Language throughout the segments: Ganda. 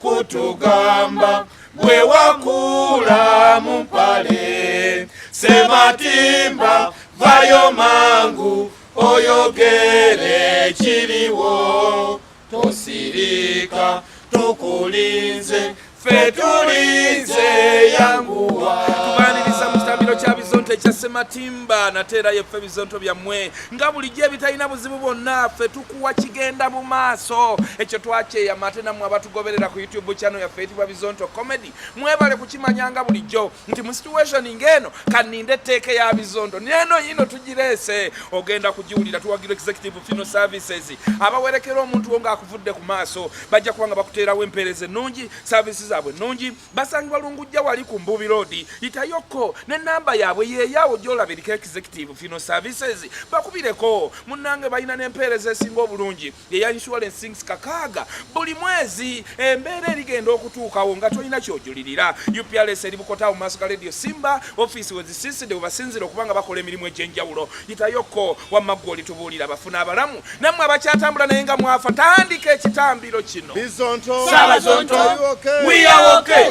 kutugamba gwe wakuula mu mpale sematimba vayo mangu oyogere kiriwo tosirika tukulinze fe tulinze yanguwa tubaniriza mu kitambiro kya bizonto ekya sematimba nateerayo ffe bizonto byammwe nga bulijjo ebitalina buzibu bwonna fe kuwa kigenda mu maaso ekyo twakyeyama ate nammwe abatugoberera ku youtube channel yaffe eyitibwa bizonto comedy mwebale kukimanya nga bulijjo nti mu situation ng'eno kaninde etteeka eya bizonto neeno yino tugireese ogenda kugiwulira tuwagira executive fino services abawerekera omuntu wo ng'akuvudde ku maaso bajja kuba nga bakuteerawo empeereza ennungi saavisi zaabwe ennungi basangibwa lungujja wali ku mbubi road yitayokko ne namba yaabwe yeeyaawo gyolabirika executive fino services bakubireko munnange balina n'empeereza esinga obulungi eya insurances kakaaga buli mwezi embeera erigenda okutuukawo nga tolina kyojulirira uprs eri bukotawo maaso ga radio simba ofiisi wezisiiside webasinzira okuba nga bakola emirimu egy'enjawulo Yitayoko wamma ggwe olitubuulira abafu n'abalamu nammwe abakyatambula naye nga mwafa tandika ekitambiro kino Ssaabazonto we are okay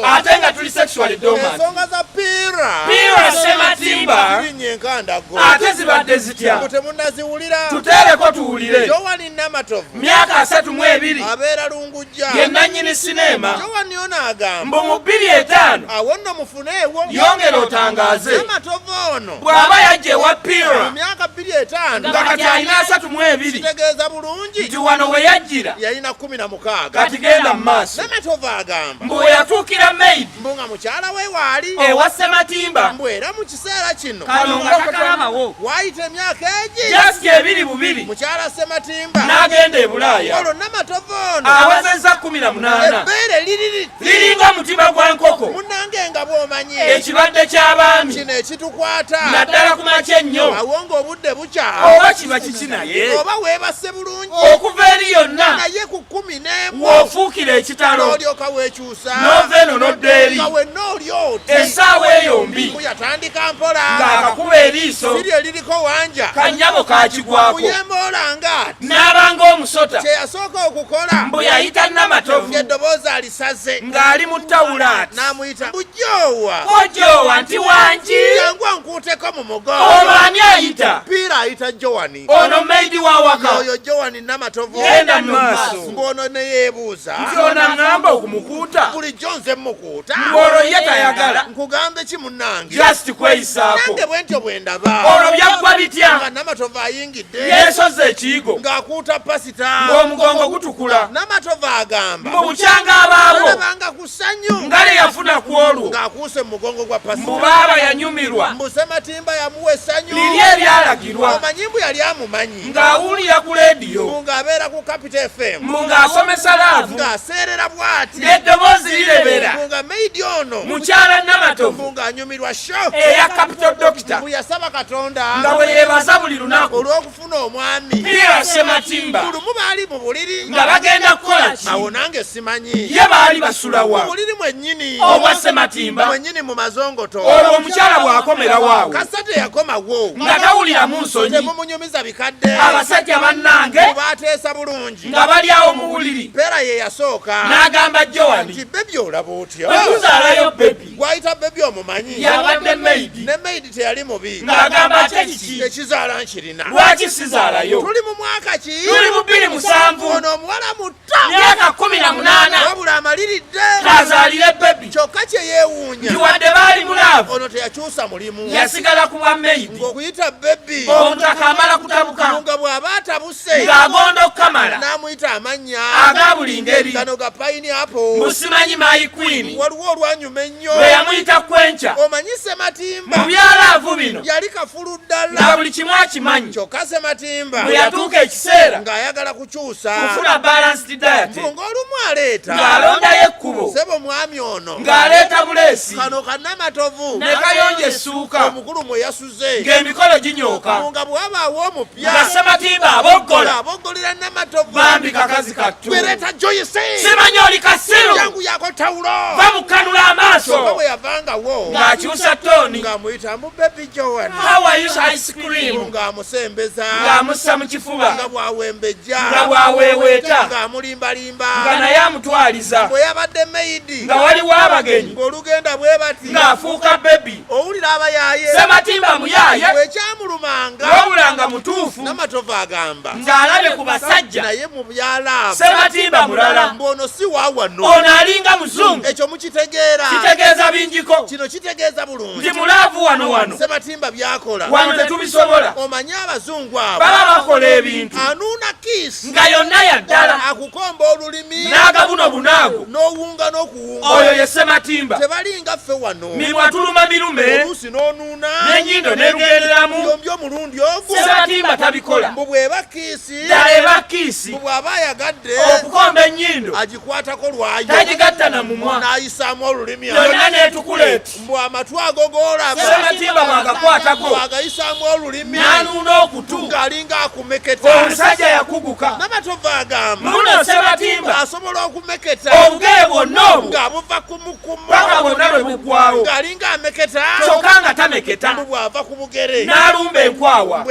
ate nga tuli sexually dormant ensonga za piira piira sematimba zirinnya enkandago ate zibadde zitya mbu temunnaziwulira tuteereko tuwulire jowani namatovu myaka asatu mu ebiri abeera lungujja ye nannyini sineema jowani ono agamba mbu mu bbiri etaano awo nno ofuneewo yongera otangaaze amatova ono bw'aba yajja ewa pira mu myaka bbiri etaano nga kati alina asatu mu ebiri kitegeeza bulungi nti wano we yajjira yalina kkumi na mukaaga kati genda mu maaso namatova agamba mbu we yatuukira maid mbu nga mukyala we waali ewa ssematimba mbu era mu kiseera kino kano nga kakalabawo waayita emyaka egi just ebiri bubiri mukyala ssematimba n'agenda e bulaaya olwo namatova ono awezezza kkumi na munaana ebbeere liriri liringa mutima gwa nkoko munange nga bwomanyi ekibadde ky'abaami kino ekitukwata naddala ku makya ennyo awo ng'obudde bukya oba kiba kiki naye oba weebase bulungi okuva eri yonna naye ku kkumi n'emu ofuukira ekitalo olyoka weekyusa n'ova eno n'odda eri nga wenna oli oti essaawa eyo mbi yatandika mpola ng'akakuba eriiso siri eririko wanja kanyabo kakigwako kuyemboolanga n'abanga omusota kye yasooka okukola mbu yayita namatovu ng'eddoboozi alisaze ng'ali mu tawulaati n'amuyita bujoowa ojoowa nti wangi jangu onkuuteko mu mugongo olwo ani ayita piira ayita jowani ono maidi wa waka oyo jowani namatovu genda mu maaso ng'ono ne yeebuuza nti ono aŋŋamba okumukuuta bulijjo nze mmukuuta ng'olwo ye tayagala nkugambe ki munnange just kweyisaako nange bwe ntyo bwe ndaba olwo byaggwa bitya nga namatovu ayingidde yeesozza ekiyigo ng'akuuta pasita ng'omugongo gutukula namatovu agamba mbu bukyanga abaawo abanga ku ssanyu nga lye yafuna ku olwo ng'akuuse mu mugongo gwa pasita mbu baaba yanyumirwa mbu sematimba yamuwa essanyu liri eryalagirwa omanyi mbu yali amumanyi ng'awulira ku leediyo mbu ng'abeera ku kapita fm mbu ng'asomesa laavu ng'aseerera bw'ati n'eddoboozi lirebera mbu nga meidi ono mukyala namatovu Nyumirwa show eya Capital Doctor mbu yasaba Katonda nga bwe yeebaza buli lunaku olw'okufuna omwami Pierre Sematimba. Ku lumu baali mu buliri nga bagenda kukola ki? Awo nange simanyi ye baali basula wa? Mu buliri mwennyini obwa Sematimba mwennyini mu mazongoto. Olwo omukyala bw'akomera waawo kasita teyakomawo nga tawuliramu nsonyi. Temumunyumiza bikadde abasajja bannange baateesa bulungi nga bali awo mu buliri. Peera ye yasooka n'agamba Joan nti bebi olaba otya? Bwe tuzaalayo bebi gwayita bebi omumanyi yabadde maid ne maid teyali mubi ng'agamba ate kiki ekizaala nkirina lwaki sizaalayo tuli mu mwaka ki tuli mu bbiri musanvu ono omuwala muto myaka kumi na munaana wabula amaliridde azaalire bebi kyokka kye yeewuunya kiwadde baali mulaavu ono teyakyusa mulimu yasigala ku bwa maid ng'okuyita bebi omuntu akamala kutabuka nga bw'aba atabuse amusse ng'agonda okukamala n'amuyita amannya aga buli ngeri gano ga payini apo musimanyi mayi kwini waliwo olwanyuma ennyo lwe yamuyita kwenkya omanyi sematimba mu byalaavu bino yali kafulu ddala na buli kimu akimanyi kyokka sematimba bwe yatuuka ekiseera ng'ayagala kukyusa kufuna balanced diet ng'olumu aleeta ng'alondayo ekkubo sebo mwami ono ng'aleeta buleesi kano kanamatovu ne kayonja essuuka omukulu mwe yasu abatuuze ng'emikolo ginyooka nga bwabaawo omupya nga sematimba aboggola aboggolera namatovu bambi kakazi kattu wereeta joyisi simanyi oli kasiru yangu yako tawulo bamukanula amaaso nga bwe yavangawo ng'akyusa tooni ng'amuyitamu bebi joan hawayus ice cream ng'amusembeza ng'amussa mu kifuba nga bwawembejja nga bwaweeweeta ng'amulimbalimba nga naye amutwaliza bwe yabadde meyidi nga waliwo abagenyi ng'olugenda bwe bati ng'afuuka bebi owulira abayaaye sematimba muyaaye wekyamulumanga nowulanga mutuufu namatovu agamba ng'alabye ku basajja naye mu byalamu sematimba mulala mbuono si wawano ono alinga muzungu ekyo mukitegeera kitegeeza bingiko kino kitegeeza bulungi nti mulaavu wano wano sematimba byakola wano tetubisobola omanyi abazungu abo baba bakola ebintu anuuna kiisi nga yonna yaddala akukomba olulimi n'agabuno bunaago n'owunga n'oku kuwunga oyo ye ssematimba tebalinga ffe wano mimwa tuluma mirume oluusi n'onuuna n'enyindo n'erugenderamu byombi omulundi ogu ssematimba tabikola mbu bw'eba kiisi ddala eba kiisi mbu bw'aba ayagadde okukomba ennyindo agikwatako lwayo tagigatta na mumwa n'ayisaamu olulimi yonna n'etukula eti mbu amatu ago golabasematimba bwagakwatako agayisamu olulimi nanuna okutu ng'alinga akumeketa omusajja yakuguka namatova agamba muno sematimba asobola okumeketa obugere bwonna obwo ng'abuva ku mukuma paka bwonna bwe bugwawo ng'alinga ameketa kyokka nga tameketa mbu bw'ava ku bugere n'alumba enkwawa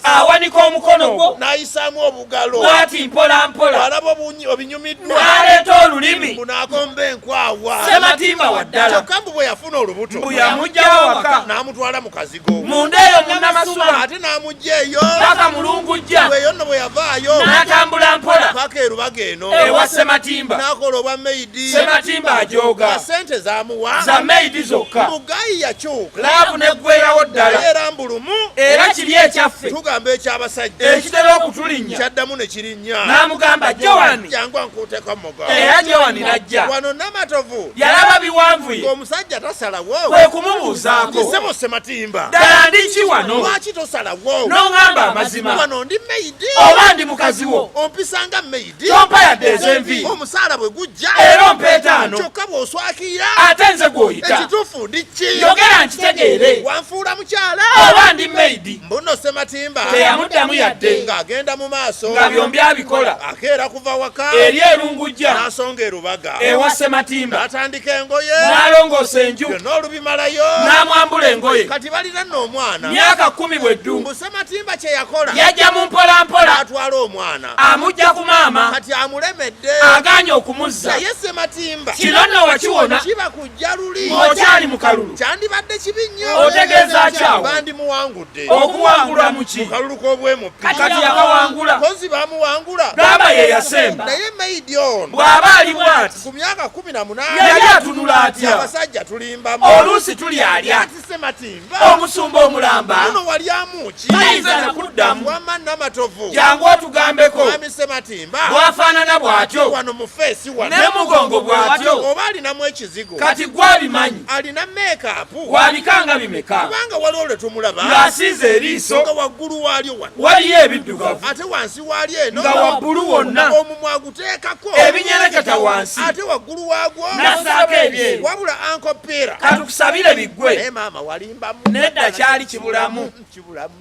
awanika omukono gwo n'ayisaamu obugalo bwati mpola mpola alaba obinyumiddwa n'aleeta olulimi mbu n'agomba enkwawa sematimba wa ddala kyokka mbu bwe yafuna olubuto mbu yamugyawo waka n'amutwala mu kazigo munda eyo munamasuba ate n'amugya eyo paka mulungujja eyo nno bwe yavaayo n'atambula mpola paka erubaga eno ewa sematimba n'akola obwa meidi sematimba ajooga sente zamuwa za meidi zokka mugayi yakyuka laavu neggweerawo ddala lumu era kiri ekyaffe tugamba ekyabasajja ekitera okutulinnya kyaddamu ne kirinnya n'amugamba jowani jangu ankuuteko mugo era jowani n'ajja wano namatovu yalaba biwanvuye ng'omusajja tasalawo kwe kumubuuzaako kisebo sematimba ddala ndi ki wano lwaki tosalawo n'oŋamba amazima wano ndi meyidi oba ndi mukazi wo ompisanga meyidi gyompa yadde ezenvi omusaala bwe gujja era ompa etaano kyokka bw'oswakira ate nze gw'oyita ekituufu ndi ki yogera nkitegeere wanfuula mukyala oba ndi maidi mbuno sematimba teyamuddamu yadde ng'agenda mu maaso nga byombi abikola akeera kuva waka eri erungujja n'asonga erubaga ewa sematimba n'atandika engoye n'alongoosa enju byonna olubimalayo n'amwambula engoye kati balina nno omwana myaka kkumi bwe ddu mbu sematimba kye yakola yajja mu mpolampola atwala omwana amujja ku maama kati amulemedde aganye okumuzza naye sematimba kino nno wakiwona kiba kujja luli okyali mu kalulu kyandibadde kibi nnyo otegeeza kyawo bandimuwangudde okuwangulwa mu ki kalulu k'obwemupi kati yakawangula kozi bamuwangula gamba ye yasemba naye maidi ono bw'aba ali bwati ku myaka kumi na munaana yali atunula atya abasajja tulimbamu oluusi tuli alya Ssematimba omusumba omulamba muno walyamu ki tayinza nakuddamu wamma namatovu jangu otugambeko mwami Ssematimba bwafaanana bw'atyo wano mu feesi wano ne mugongo bw'atyo oba alinamu ekizigo kati gwe abimanyi alina meekaapu wabikanga bimeka kubanga waliwo lwe tumulaba ng'asiize eriiso nga waggulu waalyo wano waliyo ebiddugavu ate wansi waalyo eno nga wabbulu wonna omumwa teekako ebinyereketa wansi ate waggulu waagwo nasaako ebyeru wabula ankopeera katukusabire biggwe naye maama walimbamu nedda kyali kibulamu kibulamu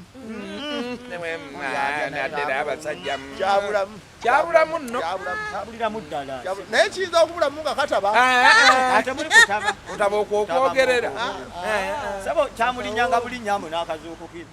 kyabulamu nobuliramu ddala naye kiyinza okubulamu nga kataba otaba okwokwogerera sabo kyamulinyanga bulinyambu n'akazuukukira